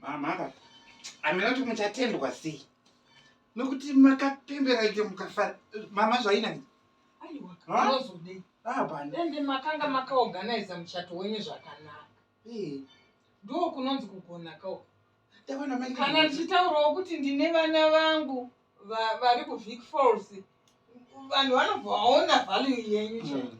mama hamina kuti muchatendwa sei nokuti makapembera ike mukafara mama zvainani aiwaozodeiende makanga makaorganiza muchato wenyu zvakanaka ndo kunonzi kugona kao kana ndichitaurawo kuti ndine vana vangu vari kuvik falls vanhu vanobva vaona value yenyu chai hmm.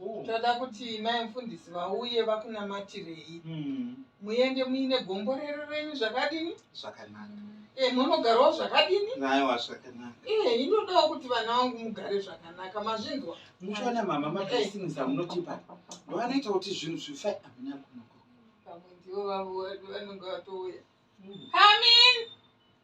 Oh. toda kuti mai mufundisi vauye vakunamatirei Mm. muende muine gomborero renyu zvakadini Zvakanaka. e, munogarawo zvakadini Naiwa zvakanaka. e, inodawo kuti vana vangu mugare zvakanaka mazvinzwa Muchiona mama mablessings amunotipa ndoanoita kuti zvinhu zvife amina kunoko. pamwe ndivo vavo vanenge vatouya Mm. Come in.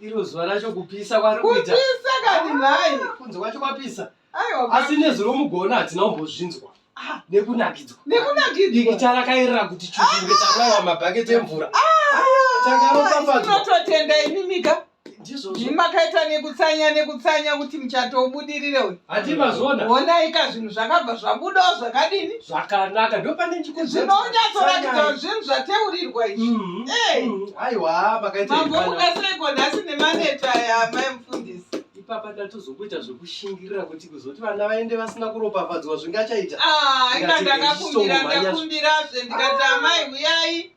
Iro zuva racho kupisa kwari kuita. Kupisa kani nhai? Kunze kwacho kwapisa. Aiwa. Asi nezwi romugona hatina kumbozvinzwa. Ah, nekunakidzwa. Nekunakidzwa. Diki tarakairira kuti chukunge ah. taraiwa mabhaketi emvura. Ah. Tangaropafadzwa. Tinototenda imimika. Ndizvozvo. Makaita nekutsanya nekutsanya kuti muchato ubudirire uyu. Hati mazona. Wona ika zvinhu zvakabva zvabuda zvakadini? Zvakanaka ndopane chikuzi. Zvinonyatso rakidza zvinhu zvateurirwa izvi. Mm-hmm. Eh. Mm-hmm. Aiwa pakaita. Mambo mukaseko nhasi nemaneta ya mai mfundisi. Ipapa ndatozokuita zvekushingirira kuti kuzoti vana vaende vasina kuropafadzwa zvingachaita. Ah, ina ndakakumbira ndakumbira zve ndikati amai huyai.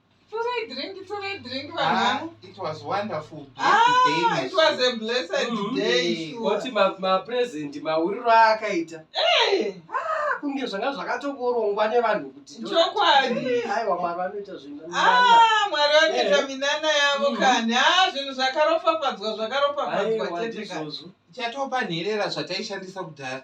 Torai drink, torai drink Ah, vanhangu. it was wonderful. Ah, Blessed it was day. a blessed Mhm. day. sure. Oti ma- mapresent mawiriro aakaita Eh, Ah, kunge zvanga zvakatongorongwa nevanhu kuti ndo- Chokwadi. Eh, haiwa mwari vanoita zvinhu Ah, mwari vanoita Eh. minana yavo Mhm. kani ah zvinhu zvakaropafadzwa zvakaropafadzwa chete kani Chatopa nherera zvataishandisa kudhara.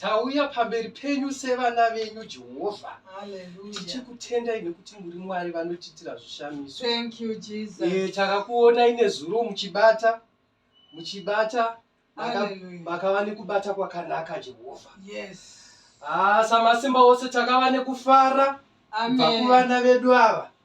Tauya pamberi penyu sevana venyu Jehovha. Tichikutendai nekuti muri Mwari vanotiitira zvishamiso. Thank you Jesus. Eh, takakuonai nezuro muchibata muchibata makava nekubata kwakanaka Jehovha. Yes. Ah, samasimba ose takava nekufara kubva kuvana vedu ava.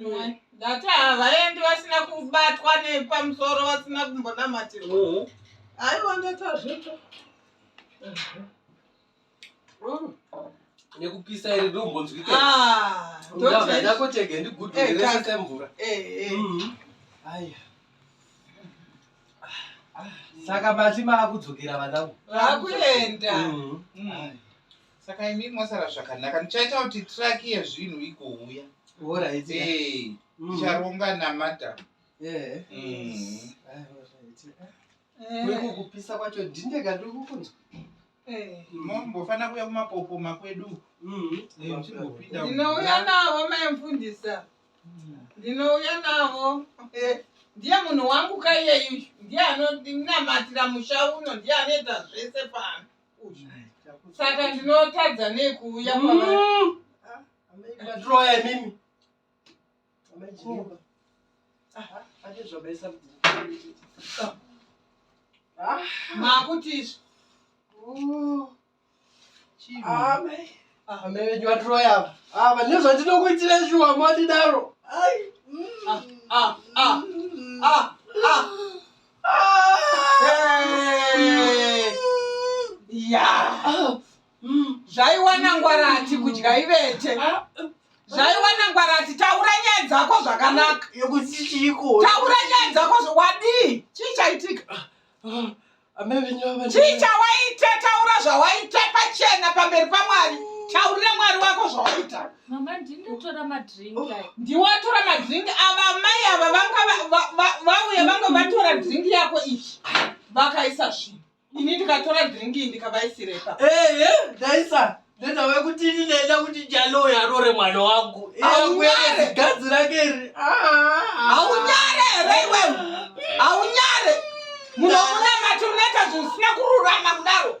Mm. Ndati havaendi vasina kubatwa nepamusoro vasina kumbonamatirwa. Mm. Aiwa ndati hazvito. Mm. Nekupisa iri ndombonzwika. Ah, ndoti ndako chege ndigudu eh, rese semvura. Eh, eh. Mm. Aya. Ah, saka mati maakudzokera vanangu. Vakuenda. Mm. Mm. saka imi mwasara zvakanaka ndichaita kuti traki yezvinhu igouya ticharonga eh, namata kupisa kwacho dhindeka ndikukunzwa eh, mombofanira kuya kumapopoma kwedu mm-hmm. eh, ndinouya navo maimfundisa mm. ndinouya navo ndiye munhu wangu kaiyeyu ndiye anoninamatira musha uno ndiye anoita zvese pano saka ndinotadza nei kuuya kwaroya mm. mimi makutisv amai venyu vatiroya ava ava nezvatinokuitira shuwa mwadidaro zvaiwana ngwara ati kudya ivete zvaiwana ngwara ati taura nyaya dzako zvakanaka taura nyaya dzako wadii chii chaitika chii chawaita taura zvawaita pachena pamberi pamwari taurira mwari wako zvawaita Mama ndingatora madrink. Oh, Ndiwatora madrink ava mai ava vanga vauya vanga vatora drink yako ichi. Vakaisa zvi. Ini ndikatora drink iyi ndikavaisira ipa. Eh eh ndaisa. Nenda we kuti ini ndaenda kuti jalo yarore mwana wangu. Aunyare gadzi rake iri. Ah. Aunyare ere iwe. Aunyare. Munoona mati unaita zvisina kururama kudaro.